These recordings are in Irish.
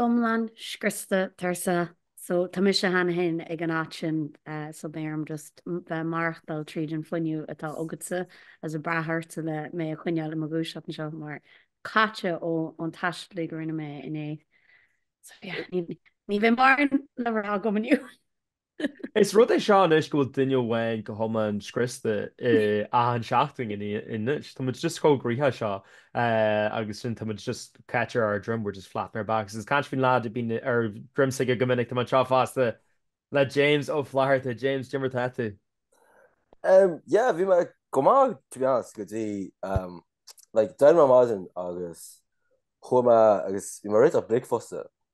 iomlán scriosta tar éis so tá mise cheana féin ag an áit sin so beidh orm just bheith maireachtáil tríd an fuinneamh atá agatsa is ag brath ortsa le mé a choinneáil i mo dhúiseacht anseo mar caite ón taisteal uilig a rinne mé inné so yeah ní bheidh mórán le rá agam inniu. Is rud é seo anois go bhfuil duine amháin go hiomlán scriosta i achan seachtain anois. Tá muid just chomh gnóthach seo agus sin tá muid just caite ar ár ndroim, we're just flat on our backs. Is caint faoin lad a bíonn ar droim s'aige go minic, tá mé anseo fosta le James Ó Flatharta. James, dé mar atá tú? Yeah, bhí mé go maith to be honest go dtí like dé hAoine ar maidin agus chuaigh mé agus bhí mé réiteach bricfeasta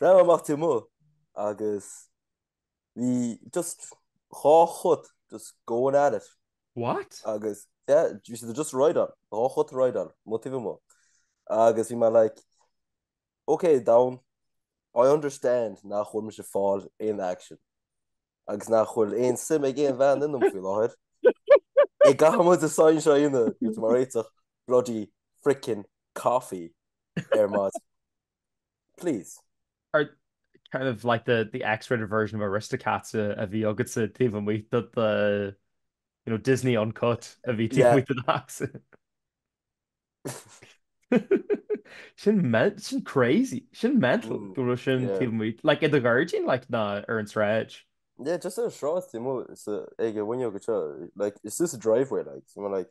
Bhreathnaigh mé amach taobh amuigh agus bhí just dhá chut just going at it. What? Agus yeah bhí siad just ag rideáil, dhá chut ag rideáil, amuigh taobh amuigh. Agus bhí mé like ok domhan I understand nach bhfuil mise ag fáil aon action agus nach bhfuil aon suim ag aon bhean ionam faoi láthair. An gcaithfidh muid é a sáinn seo in m'aghaidh is mé ag réiteach bloody frickin coffee ar maidin. Please. Oh kind of like the the X-rated version of Aristocats uh, a bhí agatsa taobh amuigh de the you know Disney uncut a bhí taobh amuigh do Dax. sin sin crazy sin mental mm, go bhfuil sin taobh amuigh like i do ghairdín like nó ar an sráid. Yeah, just ar sráid taobh amuigh den fhuinneog seo, like, it's just a driveway, like, you know, like,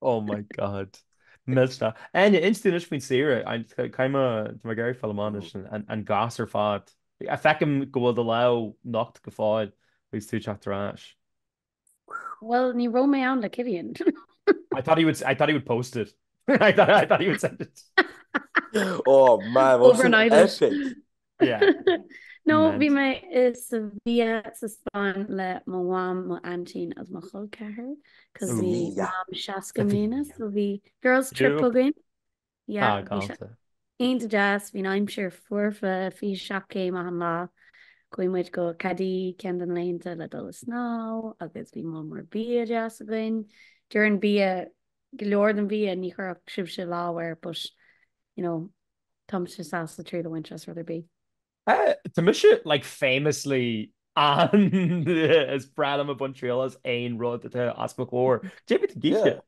Oh my God. Míle maith. Áine, inis dúinn anois faoin saoire. Caith mo, tá mo Gary Fáil amach anois, an gasúr fad. Feicim go bhfuil do lámh nocht go fóill agus tú ag teacht ar ais. Bhuel, ní raibh mé ann le Kivian. I thought he would, I thought he would post it. I thought he would send it. Oh man, what an epic. Nó bhí mé i Sevilla sa Spáinn le mo mham, mo aintín agus mo chol ceathar 'cause bhí mam 60 i mbliana so bhí girls trip againn. Ah galánta. Iontach deas, bhí an aimsir foirfe, 27 céim achan lá. Chuaigh muid go Cádiz ceann de na laethanta le dul ag snámh agus bhí mol mór bia deas againn. Dáiríre, bia, go leor den bhia ní chuirfeadh sibhse lámh air but you know Tá mise sásta triail a bhaint as rud ar bith. Tá mise like famously an is breá liom a baint triail as aon rud atá os mo chomhair. Céard a bhí tú ag ithe?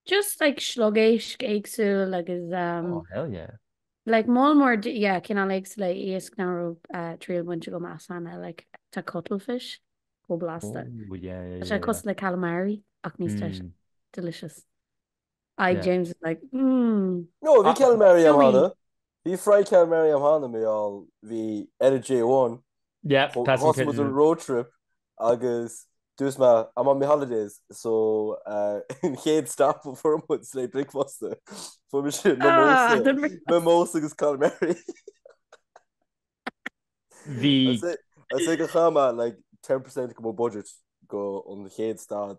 Just like sliogéisc éagsúil agus um. Oh hell yeah. Like mol mór yeah cineál éagsúla iasc nach raibh triail bainte agam as cheana like tá cuttlefish chomh blasta. Oh yeah yeah yeah. Tá sé cosúil le calamari ach níos deise. Delicious. I James is like mm. No bhí ceann Mary am hana. Bhí frae ceann Mary am hana mé all bhí Energy One. Yeah that's what was a road trip agus dús me I'm on my holidays so in chéad stop for mud slé bricfosta fu me sin me mós agus ceann Mary. Bhí sé go chama like 10% go budget go an chéad stad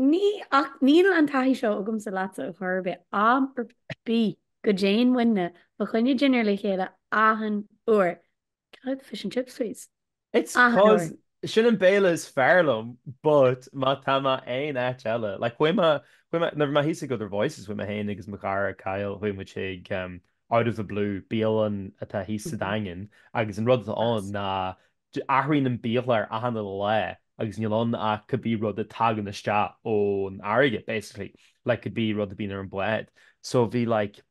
Ní, ach níl an taithí seo agamsa leatsa ar chor ar bith, am ar bith go dtéann muidne fá choinne dinnéir le chéile achan uair. Cad? Fish and chips please? It's Achan uair. 'cause sin an béile is fearr liom but má tá mé aon áit eile, like chuaigh mé, chuaigh mé, nuair a bhí mé thíos ag Other Voices chuaigh mé féin agus mo chara Kyle, chuaigh muid chuig em Out of the Blue, bialann atá thíos sa Daingean agus an rud atá ann ná Athraíonn an biachlár achan uile lá agus níl ann ach cad é rud a tagann isteach ón fharraige basically like cad é rud a bíonn ar an bhád so bhí like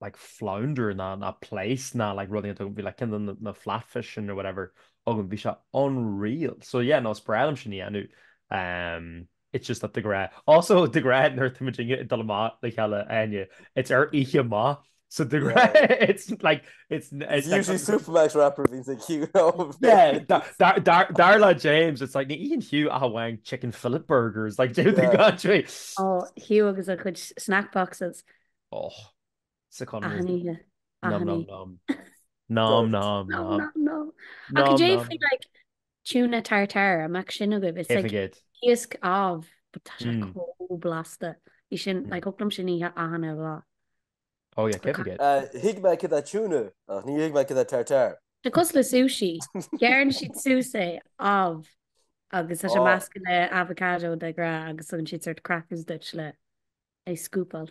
like flounder ná ná plaice ná like rudaí atá bhí like kinda na na flatfish sin or whatever againn bhí sé unreal so yeah no is breá liom sin a dhéanamh eh It's just that de ghnáth. Also, de ghnáth nuair atá muid ag dul amach le chéile Áine, it's ar oíche amach. So de ghnáth it's like it's it's like Usually Supermac's wrap a bhíonns ag Hugh nó Yeah, dar dar dar le James, it's like ní itheann Hugh ach amháin chicken fillet burgers, like do you think Yeah. that way? Oh, Hugh agus a chuid snack boxes. Och. sa Conradh. Aithnigh, aithnigh. Nom nom nom. Nom nom nom. Ach déarfainn like tuna tartare, an mbeadh sin agaibh. It's like iasc amh, but tá sé chomh blasta. Bhí sin, like thiocfadh liom sin a ithe achan uile lá. Oh yeah, céad faoin gcéad. Tuigim cad é tuna, ach ní thuigim cad é tartare. Tá cosúil le sushi. Gearrann siad suas é amh agus tá sé measctha le avocado de ghnáth agus tugann siad sórt crackers duit le é scúpáil.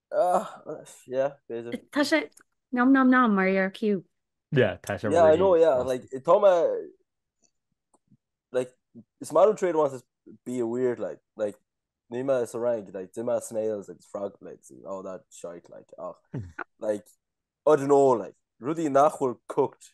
Tá sé nom nom nom mar ar Q. Yeah, tá sé Yeah, I know, yeah, like, tá me, like, is maith an trade wants is be a weird, like, like, ní me sa rank, like, di me snails, like, frog legs, and all that shite, like, ach, like, I don't know, like, rudí nach bhfuil cooked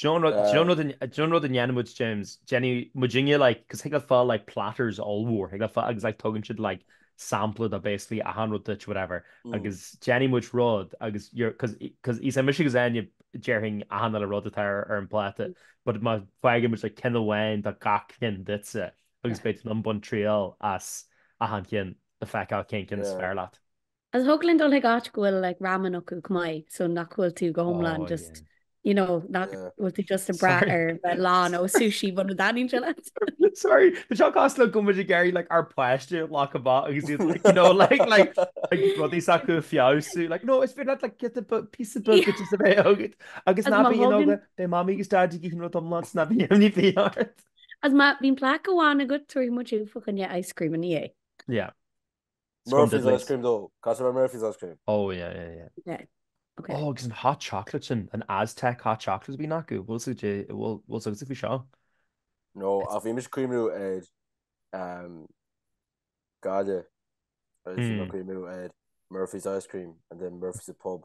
Do you know rud a ndéanann muid James? Déanann muidinne like 'cause thig leat fáil like platters ollmhór thig leat fáil agus like tugann siad like sampla de basically achan rud duit whatever agus déanann muid rud agus you're 'cause 'cause is é mise agus Áine déarfainn achan uile rud atá ar an bpláta but má fhaigheann muid like ceann amháin de gach ceann duitse agus beidh tú in ann baint triail as achan ceann le feiceáil cén ceann is fearr leat. Agus thig linn dul chuig áit go bhfuil like ramen acu chomh maith so nach bhfuil tú go hiomlán just you know nach bhfuil tú just ag brath ar bheith lán ó sushi muna dtaitníonn leat. Sorry, tá seo cosúil le go muid ag éirí like ár páiste lá chomh maith agus iad like you know like like like rudaí s'acu a fheabhsú like no is féidir leat like giota píosa beag just a bheith agat agus ná bí in óga beidh Mamaí agus Daidí ag iarraidh rud iomlán so ná bíodh imní ar bith ort. Agus má bhíonn plaic amháin agat tabharfaidh muid thú fá choinne ice cream ina dhiaidh. Yeah. Murphy's ice cream though. Caithfidh a bheith Murphy's ice cream. Ó yeah yeah yeah. Yeah ok. Ó agus an hot chocolate sin, an Aztec hot chocolate a bhíonn acu, bhfuil a fhios a'd, bhfuil, bhfuil a fhios agatsa faoi seo? No, ach bhí mise ag cuimhniú ar ehm gaile agus bhí mé Mm. ag cuimhniú ar Murphy's ice cream and then Murphy's a pub.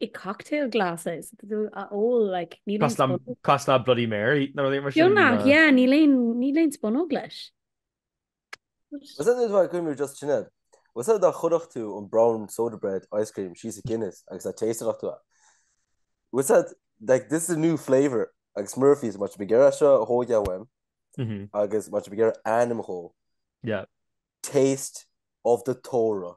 i cocktail glasses a ól like níl aon spunóg. Cosúil le Bloody Mary nó rud éigin mar sin. Beo nach ea, níl aon, níl aon spunóg leis. Is é duit bheith ag cuimhniú just sin é. Is é dá chuirfeadh tú an brown soda bread ice cream síos i Guinness agus dá tasteáilfeadh tú é. Is é like this is a new flavour agus Murphy's má tá siad ag iarraidh seo a thóigeáil uaim agus má tá siad ag iarraidh ainm dhó, taste of the trá.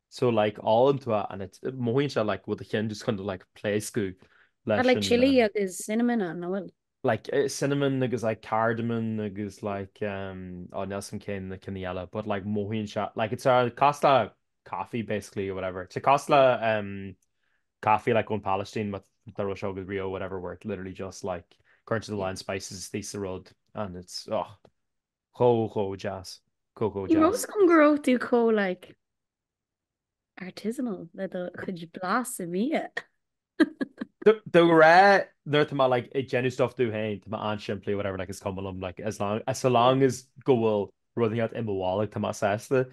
So like álainn tú and it's mothaíonn sé like bhfuil do chinn just chun to like pléascadh leis like chili um, agus cinnamon an bhfuil like eh, cinnamon agus like cardamom agus like um oh Nelson Kane na cinní eile but like mothaíonn se like it's a costa coffee basically or whatever it's a costa um coffee like on Palestine but the Russia agus Rio whatever where it literally just like current to the line spices they the road and it's oh chomh chomh deas chomh chomh Ní deas. raibh a fhios a'm go raibh tú chomh like artisanal le do chuid blas i mbia. Dáiríre nuair tá mé like ag déanamh stuff domh féin tá mé an-simplí whatever like is cuma liom like as long as so long as go bhfuil rud inteacht i mo bholg tá mé sásta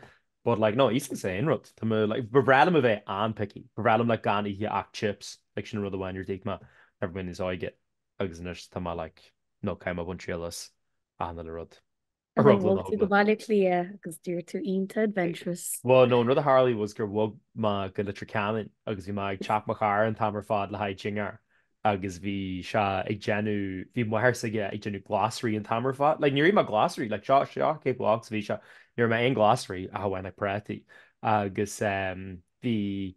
but like no íosfaidh mé aon rud tá mé like ba bhreá liom a bheith an-picky ba bhreá liom like gan ithe ach chips like sin an rud amháin ar d'ith mé nuair a bhí mé níos óige. Agus anois tá mé like no caithfidh mé baint triail as achan uile rud. Ar Bhuel, bhog tú go Baile Átha Cliath agus d'éirigh tú iontach adventurous. Bhuel no an rud a tharlaigh was gur bhog mé go Leitir Ceanainn agus bhí mé ag teach mo chara an t-am ar fad le haghaidh dinnéar agus bhí sé ag déanamh, bhí máthair s'aige ag déanamh glasraí an t-am ar fad like níor ith mé glasraí like seo, seo cé chomh holc 's a bhí sé, níor ith mé aon ghlasraí ach amháin like prátaí agus eh bhí.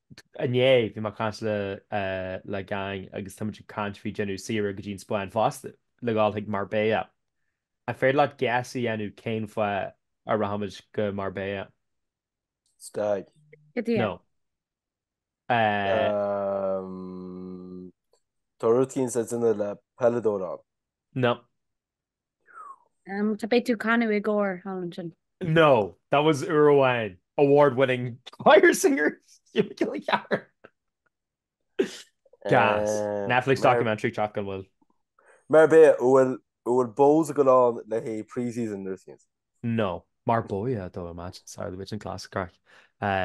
Inné, bhí mé ag caint le le gang agus táimid ag caint faoi déanamh saoire go dtí an Spáinn fosta, le dhul chuig Marbella. An féidir leat guess a dhéanamh cén fáth a rachaimid go Marbella? Stag. Go dtí No. Eh. Tá rud éicint le déanamh le peileadóir ann. No. Umm, tá Beidh tú ag canadh i gcór thall ansin. No, that was uair amháin, award winning choir singer Jimmy Gilly Carr. Gas. Netflix documentary teacht gan mhoill. Marbella, an bhfuil Bohs ag goil ann le haghaidh pre-season nó rud éicint? No, Marbella though imagine, sorry bheadh sin class craic.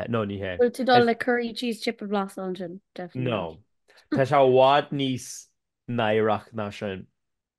No, ní hea. Bhfuil tú dul le curry cheese chip a bhlasta ansin? Definitely not. No. Tá sé i bhfad níos náireach ná sin.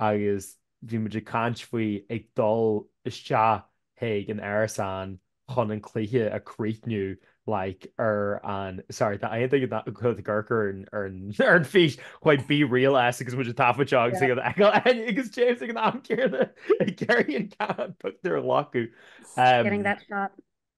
agus bhí muid ag caint faoi ag dul isteach chuig an árasán chun an cluiche a chríochnú like ar an sorry tá aon duine ag goil ag amharc ar an ar an ar an pheace chuig Be Real S agus muid ag taifeadadh seo agus ag an fheiceáil Áine agus James ag an am céanna ag iarraidh an ceann pictiúr a ghlacadh. Getting that shot.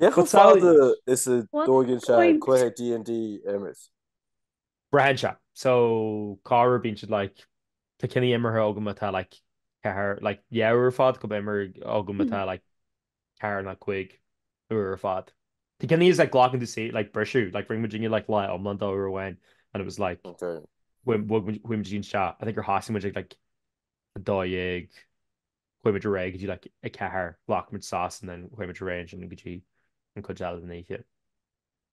Cé chomh fada is a dtóigeann sé cluiche DnD a imirt? Braitheann sé. So corruair bíonn siad like tá cinní imeartha agam atá like ceathair like dhá uair ar fad go imir agam atá like ceathair ná cúig uair ar fad. Tá cinní is like glacann tú saor like briseadh like rinne muidinne like lá iomlán dó uair amháin and it was like bhog muid chuaigh muid go dtí an teach I think gur thosaigh muid ag like a dó dhéag chuaigh muid ar aghaidh go dtí like a ceathair, ghlac muid sos and then chuaigh muid ar aghaidh ansin go dtí an cuid eile den oíche.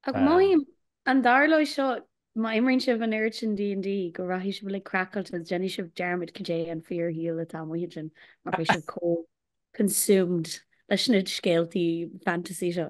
Ach mothaím, an dtarlóidh seo, má imríonn sibh an oiread sin DnD go rachaidh sibh uilig craiceáilte agus déanfaidh sibh dearmad cad é an fíor-shaol atá amuigh ansin mar beidh sibh chomh consumed leis na scéaltaí fantasy seo.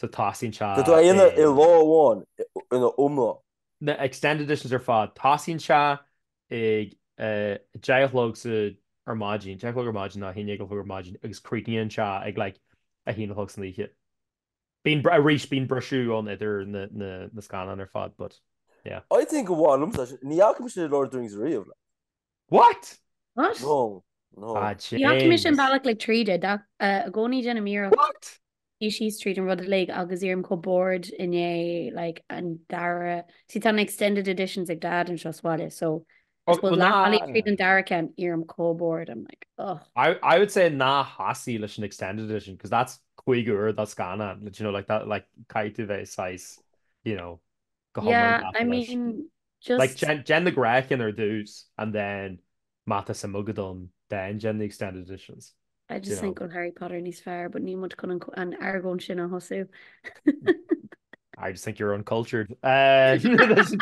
so tosaíonn sé Tá tú a dhéanamh i i. lá amháin ina iomlán. na extended editions ar fad. Tosaíonn sé ag a deich a chlog sa ar maidin, deich a chlog ar maidin ná a haon déag a chlog ar maidin agus críochnaíonn sé ag like a haon a chlog san oíche. Bíonn arís bíonn briseadh ann idir na na na scannáin ar fad but yeah. I think gur mhaith liomsa sin. Ní fhaca mise Lord of the Rings riamh like. What? What? No, no. Ah, Ní fhaca mise an James. bealach uilig tríd é. Dath i gcónaí déanaim iarracht What? suí síos tríd an rud uilig agus éirím chomh bored in like an dara see tá na extended editions ag Dad anseo sa bhaile so I Oh, suppose well, leath bealaigh tríd na. an dara ceann éirím chomh bored I'm like ugh. I, I would say ná thosaigh leis an extended edition because that's cúig uair de scannán. Like, do you know, like that, like caithfidh tú bheith saghas, you know, go hiomlán Yeah, I gafa leis. mean Like, Just. déan, déan na gnáthchinn ar dtús and then má tá suim agat ann then déan na extended editions. I Do you just think know? go bhfuil Harry Potter níos fearr but níl muid chun an co- an argóint sin a thosú. I just think you're uncultured. Eh, that's-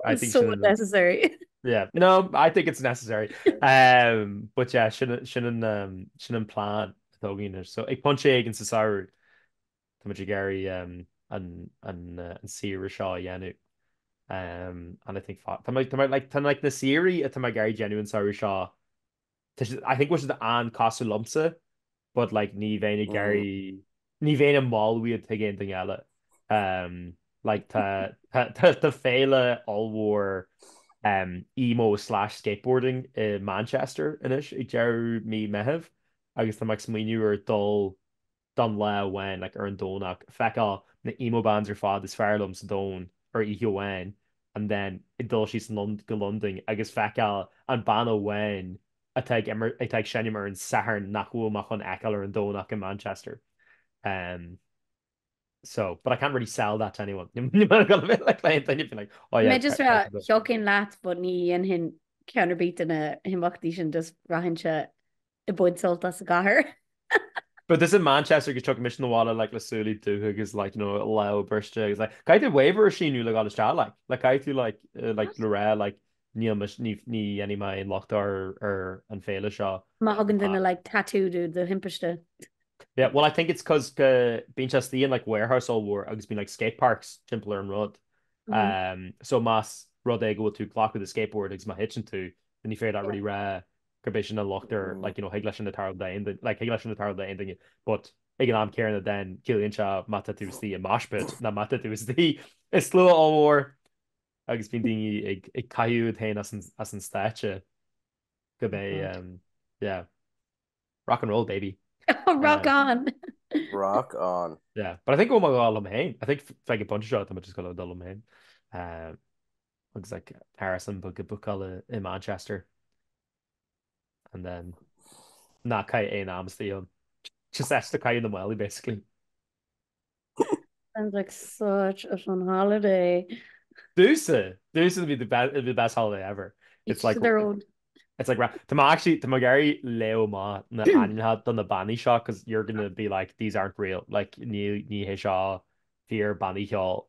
I think So she's in- unnecessary. Yeah, no, I think it's necessary. Eh, but yeah, sin, sin an, eh, sin an plean atá againn anois. So, ag pointe éigin sa samhradh, Tá muid ag iarraidh an saoire seo a dhéanamh and I think tá like na saoirí atá mé ag iarraidh déanamh an samhradh seo tá siad I think bhfuil siad an-cosúil liomsa but like ní bheinn ag iarraidh ní bheinn ag moladh iad chuig aon duine eile. Like tá féile ollmhór emo slash skateboarding i Manchester anois ag deireadh mí Meithimh agus tá mé ag smaoineamh ar dhul don lá amháin, like ar an Domhnach, feiceáil na emo bands ar fad is fearr liom sa domhan ar oíche amháin and then ag dul síos go Londain agus feiceáil an banna amháin atá ag imirt, atá ag seinm ar an Satharn nach bhfuil mé chun fheiceáil ar an Domhnach i Manchester. Em. so, but I can't really sell that to anyone. Ní maith liom gan a bheith like le aon duine being like, oh yeah, Mé just rá thiocfainn leat but ní dhéanfainn ceann ar bith de na himeachtaí sin just rachainnse ag baint sult as a gcathair. But this in Manchester agus tiocfaidh mise na bhaile like le súilí dubha agus like you know lámh briste agus like caithfidh tú waiver a shíniú le gáil isteach like like caithfidh tú like uh like le rá like níl mis ní ní dhéanfaidh mé aon locht ar ar an féile seo. Má thugann duine like tattoo duit de thimpiste. Yeah well I think it's cos go bíonn sé istigh in like warehouse ollmhór agus bíonn like skate parks timpeall ar an rud um so más rud é go bhfuil tú glacadh do skateboard agus má thiteann tú then ní féidir leat really rá gurb é sin an locht ar like you know thig leis sin tarlú do aon duine like thig leis sin tarlú do aon duine but ag an am céarna then ciallaíonn sé má tá tú istigh i mosh pit ná má tá tú istigh i slua ollmhór agus bíonn daoine ag ag caitheamh iad féin as an as an stáitse go mbeidh Aha. um yeah rock and roll baby Rock um on! Rock on. yeah but I think ó mo Dhia liom féin I think f- ag an phointe seo tá mé just ag gabháil a dhul liom féin um agus like árasán beag a bhúcáil i Manchester and then ná caith aon am istigh ann just esta caith na maoilí basically. Sounds like such a fun holiday. Domhsa! Domhsa it'll be the best, it'll be the best holiday ever. It's Each like to their own. It's like ra- Tá mé actually, tá mé ag iarraidh léamh amach na ainmneacha do na bannaí seo cos you're gonna be like these aren't real, like ní ní hé seo fíor bannaí cheoil.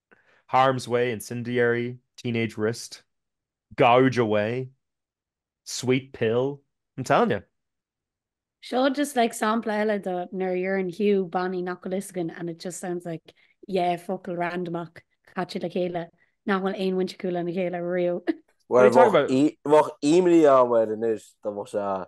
harm's way, incendiary, teenage wrist, gouge away, sweet pill, I'm telling you. Seo just like sampla eile do nuair a dheireann Hugh bannaí nach bhfuil fhios againn and it just sounds like yeah focail randamach caite le chéile nach bhfuil aon bhaint acu lena chéile riamh. Bhuel, bheadh imní air anois dá mbeadh sé ann.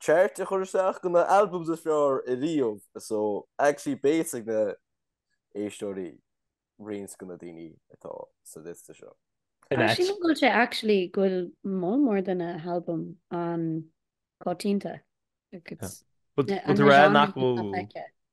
chart a chur isteach de na albums is fearr ariamh so actually beidh a fhios ag na éisteoirí roinnt de na daoine atá sa liosta seo. Sílim go bhfuil sé actually go bhfuil moll mór de na halbaim an-choitianta. Ag an na genre nach bhfuil.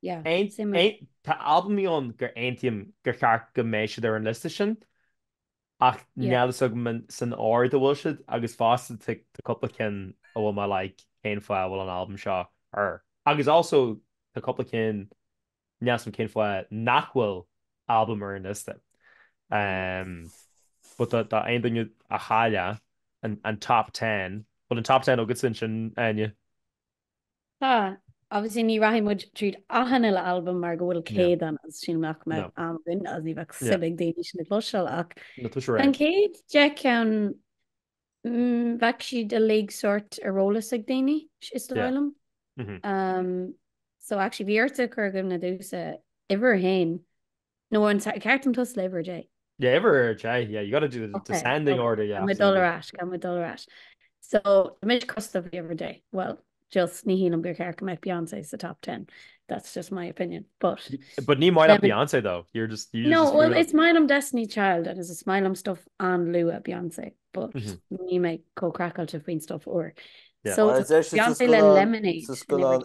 Yeah, same with. Tá albaimí ann gur aontaím gur cheart go mbeidh siad ar an liosta sin ach níl a fhios agam san ord a bhfuil siad agus fosta tá cúpla ceann a bhfuil mé like cén fáth a bhfuil an albam seo air? Agus also tá cúpla ceann níl a fhios agam cén fáth nach bhfuil albam ar an liosta. Ehm, but do aon duine a chaill an top ten, bhfuil an top ten agatsa ansin, Áine? Tá. Obviously ní rachaidh muid tríd achan uile albam mar go bhfuil céad ann agus sílim nach mbeadh am againn agus ní bheadh suim ag daoine sin a chloisteáil ach an chéad deich ceann bheadh siad uilig sort ar eolas ag daoine is dóigh liom. So actually bhí ortsa cur i gcuimhne domhsa uimhir a haon No an ceart dúinn toiseacht leis uimhir a deich. Uimhir a deich yeah you gotta do the descending order yeah. Tá muid dul ar ais tá muid dul ar ais. So tá muid ag toiseacht leis uimhir a deich well just ní shílim gur ceart go mbeadh Beyoncé sa top ten that's just my opinion but. But ní maith leat Beyoncé though you're just you just. No well is maith liom Destiny's Child agus is maith liom stuff an-luath Beyoncé but níl mé chomh craiceáilte faoin stuff úr. So Beyoncé le Lemonade. Just go on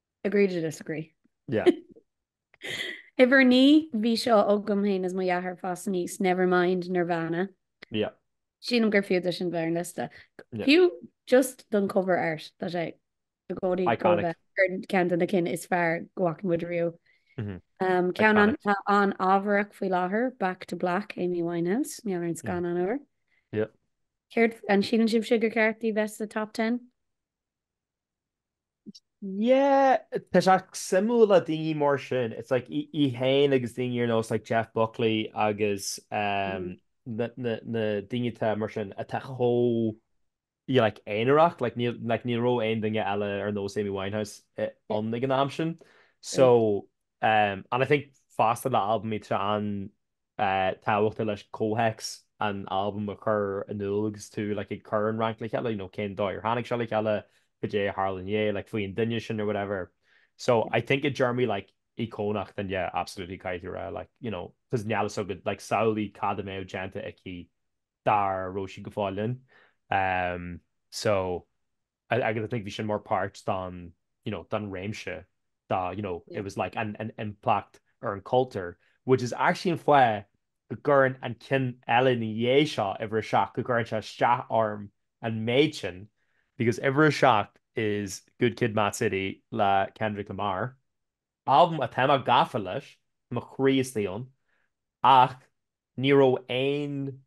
Agree to disagree. Yeah. Uimhir 9, bhí seo agam féin is mo dheartháir ag fás aníos, Nevermind Nirvana. Yeah. Sílim gur fiú dó sin a bheith ar an liosta. Yeah. Fiú just don cover art, tá sé i gcónaí dul a Iconic. bheith ar cheann de na cinn is fearr go bhfaca muid riamh. Mhm. Um, ceann an, Iconic. atá an-ábhartha faoi láthair, Back to Black, Amy Winehouse, i ngeall ar an scannán úr. Yeah. Céard, an síleann sibhse gur ceart í bheith sa top ten? Yeah, tá sé suimiúil le daoine mar sin. It's like í féin agus daoine ar nós like Jeff Buckley agus um, na, na, na daoine atá mar sin atá chomh you like aonarach, like níl like, ní raibh aon duine eile ar nós Amy Winehouse eh, Yeah, an ag an am sin. So, right. um, and I think fosta le halbam tá sé an tábhachtach an comhthéacs an albaim a chur in iúl agus tú like ag cur an rank le chéile, you know cén dóigh ar tháinig seo le chéile, cad é a tharla ina dhiaidh, like faoi an duine sin or whatever. So I think i dtéarmaí like íocónach then yeah absolutely caithfidh tú a rá like you know cause níl a fhios agat like samhlaigh cad a mbeadh déanta aici dá raibh sí go fóill linn. So. Agus I think bhí sin more part don you know don réimse dó you know it was like an an impact ar an chultúr which is actually an fáth go gcuireann an ceann eile ina dhiaidh seo uimhir a seacht go gcuireann sé isteach orm an méid sin because uimhir a seacht is Good Kid Mad City le Kendrick Lamar albam atá mé gafa leis, tá mo chroí istigh ann, ach ní raibh aon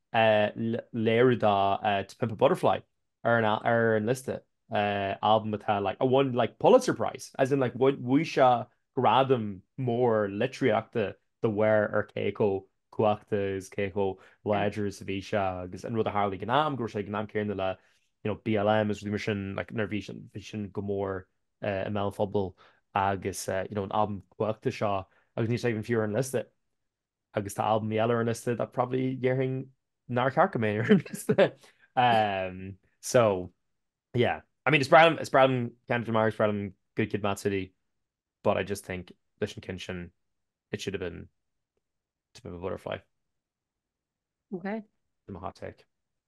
léiriú dá To Pimp a Butterfly ar an liosta, albam atá like, a won like Pulitzer Prize, as in like bhuaigh sé gradam mór litríochta de bharr ar cé chomh cumhachtach is cé chomh láidir is a bhí sé agus an rud a tharla ag an am go raibh sé ag an am céanna le you know BLM agus rudaí mar sin like nuair a bhí sin go mór i mbéal an phobail agus you know an albam cumhachtach seo agus níl sé even fiú ar an liosta agus tá albamaí eile ar an liosta that probably déarfainn nár cheart go mbeadh ar an liosta umm so yeah I mean is breá liom is breá liom Kendrick Lamar is breá liom Good Kid Mad City but I just think leis an cheann sin it should have been To Pimp a Butterfly Ok. My hot take.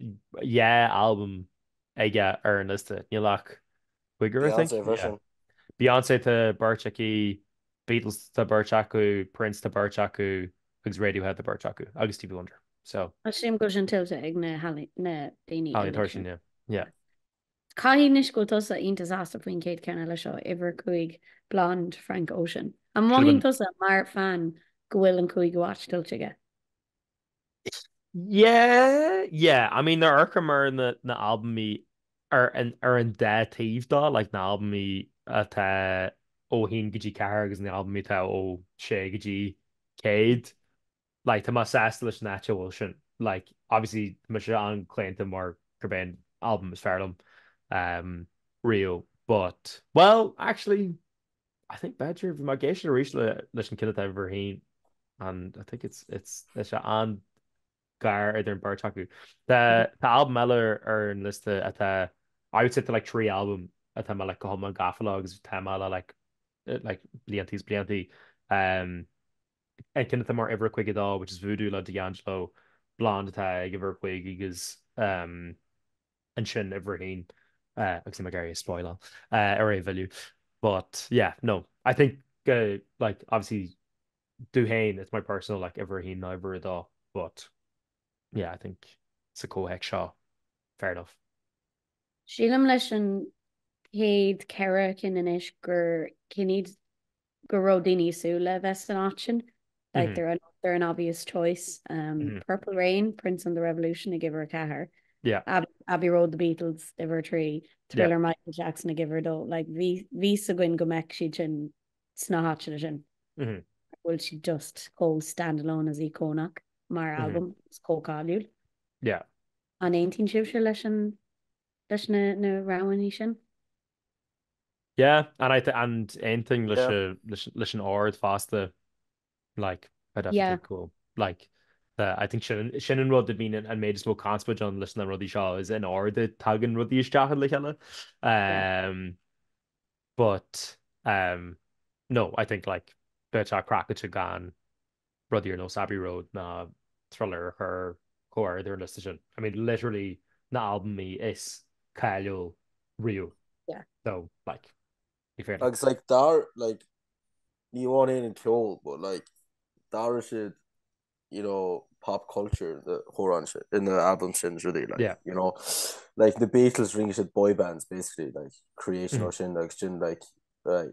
dhá albam aige ar an liosta, níl ach cúigear I think? Beyonce tá beirt aici, Beatles tá beirt acu, Prince tá beirt acu agus Radiohead tá beirt acu agus Stevie Wonder so. Sílim go bhfuil sin tuillte ag na daoine eile, yeah. Caithfidh anois go bhfuil tusa iontach sásta faoin chéad cheann eile seo, uimhir 5 Blonde, Frank Ocean. An mothaíonn tusa mar fan go bhfuil an cúigiú áit tuillte aige? Yeah, yeah, I mean nuair a amharcaim ar na albaimí ar an dá taobh dó, like na albaimí atá ó haon go dtí ceathair agus na albaimí atá ó sé go dtí céad, like tá mé sásta leis an áit a bhfuil sin. Like obviously tá mise an-chlaonta mar gurb é an albam is fearr liom riamh but, well, actually, I think b'fhéidir bhí mé ag éisteacht arís leis an cheann atá ag uimhir a haon and I think it's it's tá sé an-ghar idir an beirt acu. Tá tá albam eile ar an liosta atá I would say tá like trí albam atá mé like go hiomlán gafa leo agus tá mé le like like blianta is blianta. Um, an ceann atá mar uimhir a caoga a dó which is Voodoo le D'Angelo, Blonde atá ag uimhir a cúig agus um, ansin uimhir a haon agus níl mé ag iarraidh a spoileáil oraibh uilig. But yeah, no, I think go like obviously domh fhéin it's my personal like uimhir a haon ná uimhir a dó but yeah, I think sa comhthéacs seo fair enough. Sílim leis an chéad ceithre cinn anois gur cinn iad go raibh daoine ag súil le bheith san áit sin. Like they're an they're an obvious choice. Um Purple Rain, Prince and the Revolution ag uimhir a ceathair. Yeah. Abb Abbey Road, The Beatles uimhir a trí. Thriller, Yeah. Michael Jackson ag uimhir a dó. Like bhí a fhios againn go mbeadh siad sin sna háiteanna sin. Mhm. Go bhfuil siad just chomh standalone is íocónach mar Mhm. albam. Is chomh cáiliúil. Yeah. An aontaíonn sibhse leis an leis na na roghanna sin? Yeah, and I think and aontaím leis Yeah. an leis an ord fosta like I definitely Yeah. think go bhfuil like the I think sin an sin an rud a bhíonn an an méid is mó conspóid ann leis na rudaí seo is é an t-ord a dtagann rudaí isteach ann le chéile. Um but um no I think like bheadh sé craiceáilte gan rudaí ar nós Abbey Road ná Thriller a chur chomh hard ar an liosta sin. I mean, literally na albaimí is cáiliúla riamh. Yeah. So, like, ní féidir. Agus, like, dar, like, ní amháin an an ceol, but, like, d'athraigh siad, you know, pop culture na chórán sin, in na album sin rudaí, like, yeah. you know, like, na Beatles rinne siad boy bands, basically, like, creation mm. sin, agus sin, like, like,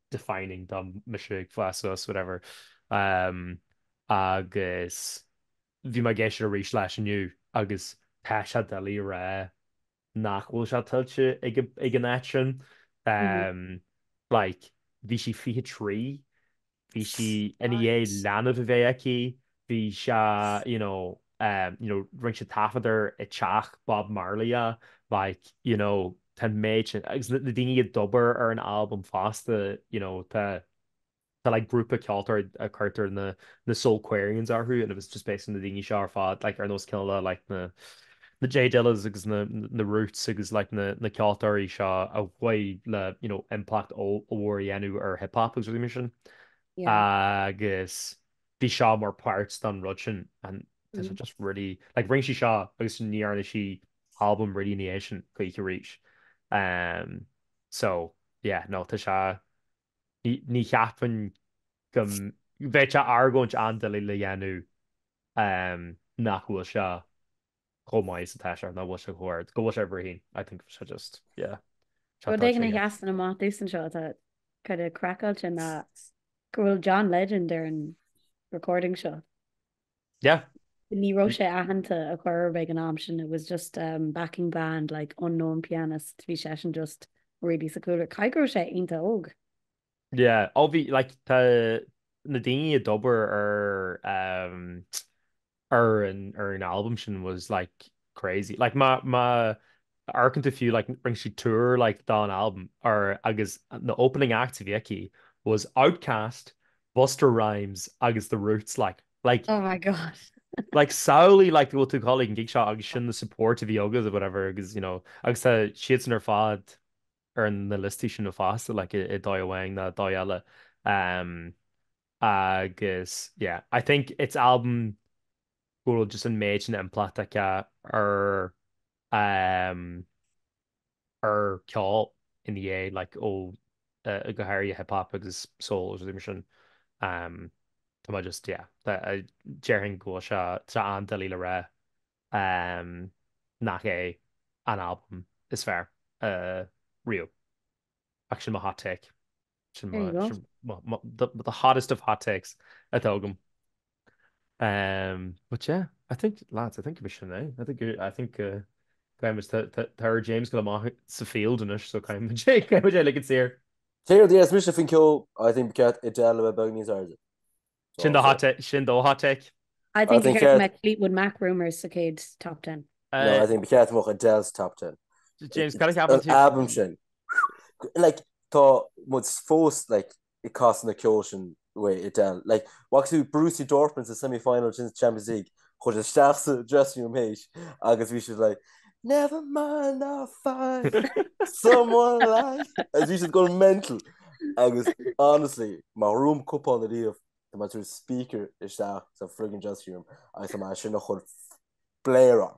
defining dom, mise ag fás suas, whatever. Agus bhí mé ag éisteacht arís leis inniu agus tá sé doiligh a rá nach bhfuil sé tuillte ag, ag an áit sin. Like, bhí sí fiche trí, bhí sí i ndiaidh leanbh a bheith aici, bhí sé you know you know rinne sé taifead air i teach Bob Marley a like you know tá an méid sin agus na daoine a d'obair ar an albam fosta you know tá tá like grúpa ceoltóirí a cuirtear na na Soulquarians orthu and it was just basically na daoine seo ar fad like ar nós cineál like na na J Dillas agus na na Roots agus like na na ceoltóirí seo a chuaigh le you know impleacht ollmhór a dhéanamh ar hip hop agus rudaí mar sin agus bhí seo mar páirt den rud sin and tá sé just really, like rinne sí seo agus ní dhearna sí album really ina dhiaidh sin choíche arís ehm so yeah no tá sé ní ní cheapfainn go mbeadh sé argóint an-doiligh le dhéanamh ehm nach bhfuil seo chomh maith is atá sé ná bhfuil sé chomh hard. Go bhfuil sé uimhir a haon. I think bhfuil sé just, yeah, Rud éigin a sheasann amach domhsa anseo atá kind of craiceáilte ná go bhfuil John Legend ar an recording seo. Yeah. Ní raibh sé aitheanta ar chor ar bith ag an am sin, it was just um backing band like unknown pianist, bhí seisean just really sa chúlra. Caithfidh go raibh sé iontach óg. Yeah, ó bhí, like, tá na daoine a d'obair ar ehm ar an ar an albam sin was like crazy. Like má má amharcann tú fiú like rinne siad tour like dá an albam or agus na opening acts a bhí aici was Outkast, Busta Rhymes agus The Roots like. Like Oh my God. like samhlaigh like go bhfuil tú ag dul ag an gig seo agus sin na support a bhí agat or whatever agus you know agus tá siadsan ar fad ar na liostaí sin fosta, like i ndóigh amháin nó i ndóigh eile ehm agus yeah I think it's album go bhfuil just an méid sin impleacht aici ar ehm ar ceol ina dhiaidh like ó eh go háirithe hip hop agus soul agus rudaí mar sin ehm tá mé just yeah tá déarfainn go bhfuil sé tá sé an-doiligh le rá. nach é an albam is fearr riamh. Ach sin mo hot take. Sin mo, sin mo, the hottest of hot takes atá agam. But yeah, I think, lads, I think gurb shin é. I think, I think go gcaithfimid, tá, tá, tá ar James gabháil amach sa field anois so caithfimid, caithfimid é a ligean saor. Céard a dhéanfas mise faoin ceol? I think ba cheart Adele a bheith beag níos airde. Sin do hot sin do hot take. I think think Gareth Met Fleetwood Mac rumours sa chéad top ten. No, I think ba cheart mo Adele's top ten. James cad a cheapann tú? Album sin. Like tá mud fós like i cás na ceol sin way Adele. Like what's who Brucey Dortmund sa semi-final sin Champions League chuaigh siad isteach sa dressing room tar éis agus bhí siad like never mind I'll find someone like agus bhí siad going mental agus honestly má bhuann muid cupán ariamh tá mé ag tabhairt speaker isteach sa friggin dressing room agus tá mé chun sin a chur blaring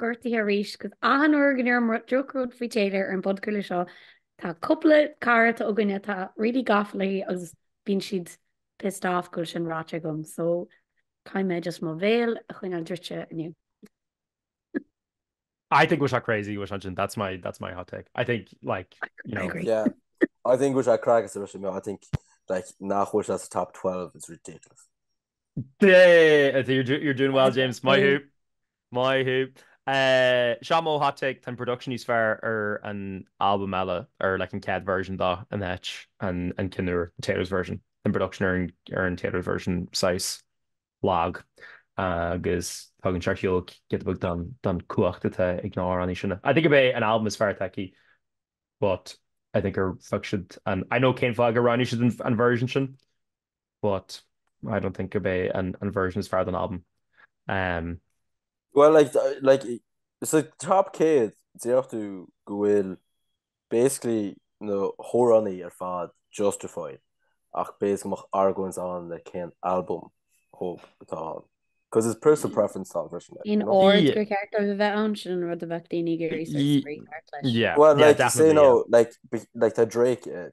gortaithe arís, agus achan uair go ndeirim droch rud faoi Taylor ar an bpodchraoladh seo, tá cupla cara atá againne atá really gafa léi agus bíonn siad pissed off go bhfuil sin ráite agam, so caithfidh mé just mo bhéal a choinneáil druidte inniu. I think bhfuil siad crazy. that's my that's my hot take I think like you know I agree. yeah I think was crack as Russian I think like nach bhfuil siad that's top 12 it's ridiculous yeah you're, do, you're doing well James Maith thú. Seo mo hot take, tá an production níos fearr ar an albam eile, ar like an céad version do ná an an ceann úr, an Taylor's version. Tá an production ar an ar an Taylor's version saghas lag agus tugann sé seo ar shiúl giota beag den den cumhacht atá ag na amhránaí sin. I think gurb é an albam is fearr atá aici but I think ar phioc siad an I know cén fáth gur roghnaigh siad an an version sin. but I don't think gurb é an version is fearr den albam. Umm. Bhuel, like, like, sa Top 100, déarfadh tú go bhfuil basically na hamhránaí ar fad justified, ach b'fhéidir go mbeadh argóint ann le cén albam thóg atá ann. Cos it's personal preference atá ann basically, you know? In ord gur cheart dóibh a bheith ann, sin an rud a bheadh daoine ag iarraidh sort of spraoi thart leis. Bhuel, like, say no, like, like, tá Drake air,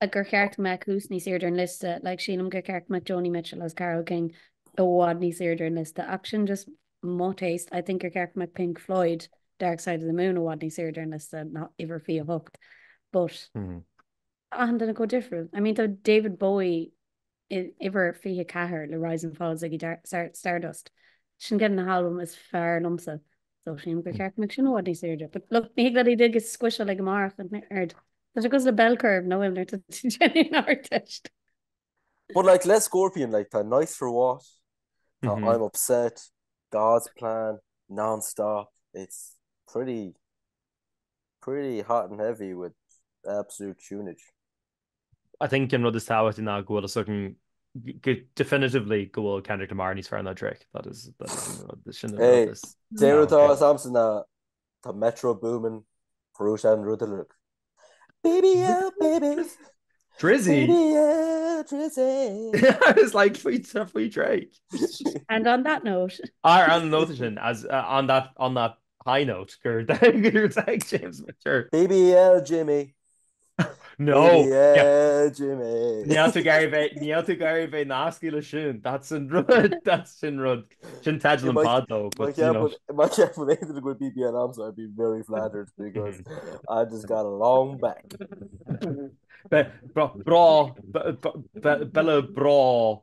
like gur cheart go mbeadh muse níos airde ar an liosta, like sílim gur cheart go mbeadh Joni Mitchell agus Carole King i bhfad níos airde ar an liosta ach sin just mo taste, I think gur cheart go mbeadh Pink Floyd, Dark Side of the Moon i bhfad níos airde ar an liosta ná uimhir 28 but tá achan duine chomh difriúil, I mean tá David Bowie in uimhir 24 le Rise and Fall Ziggy Stardust. Sin ceann de na halbaim is fearr liomsa. So sin gur cheart go mbeadh sin i bhfad níos airde. But look, ní le dig is squisha le gomarach an aird. Tá sé cosúil le bell curve nó im nuirta Jenny an artist. But like le Scorpion like tá nice for what tá mm -hmm. I'm upset God's plan non-stop it's pretty pretty hot and heavy with absolute tunage. I think an rud is tábhachtaí ná go bhfuil fhios againn go definitively go bhfuil Kendrick Lamar níos fearr ná Drake. That is that is an rud is sin an Hey, rud is. is tábhachtaí domsa ná tá Metro Boomin chruthaigh sé an rud. BBL, baby Drizzy! BBL Drizzy. I was like, faoi tra faoi Drake. And on that note, Ar an nóta sin, as uh, on that, on that high note, go raibh maith agat James Mitchell. BBL Jimmy. No! Níl tú ag iarraidh bheith nasctha le sin, that's an rud, that's an rud. Sin teideal an pod though. Má cheapann aon duine go bhfuil BBL agamsa I'd be very flattered because I just got a long back. Bella brá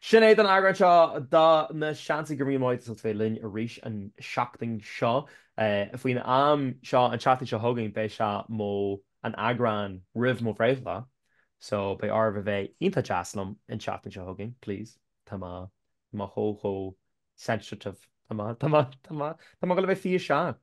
Sin é don eagrán seo de Na Seansálaithe go raibh maith agat as ucht bheith linn arís an seachtain seo. Faoin am seo an tseachtain seo chugainn beidh sé mar an eagrán roimh mo bhreithlá so beidh oraibh a bheith iontach deas liom an tseachtain seo chugainn please tá mé tá mé chomh chomh sensitive tá mé tá mé tá mé tá mé ag dul a bheith 27.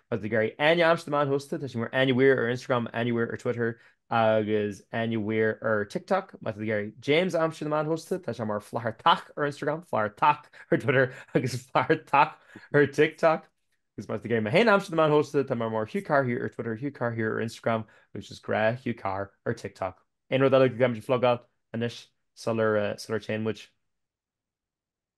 Má tá tú ag iarraidh Áine a aimsiú ar na meáin shóisialta, tá sí mar Áine Weir ar Instagram, Áine Weir ar Twitter agus Áine Weir ar TikTok. Má tá tú ag iarraidh James a aimsiú ar na meáin shóisialta, tá sé mar Flathartach ar Instagram, Flathartach ar Twitter agus Flathartach ar TikTok. Agus má tá tú ag iarraidh mé féin a aimsiú ar na meáin shóisialta, tá mé mar Hugh Carr Here ar Twitter, Hugh Carr Here ar Instagram agus just gnáth Hugh Carr ar TikTok. Aon rud eile go gcaithfimid a phlugáil anois sular téann muid?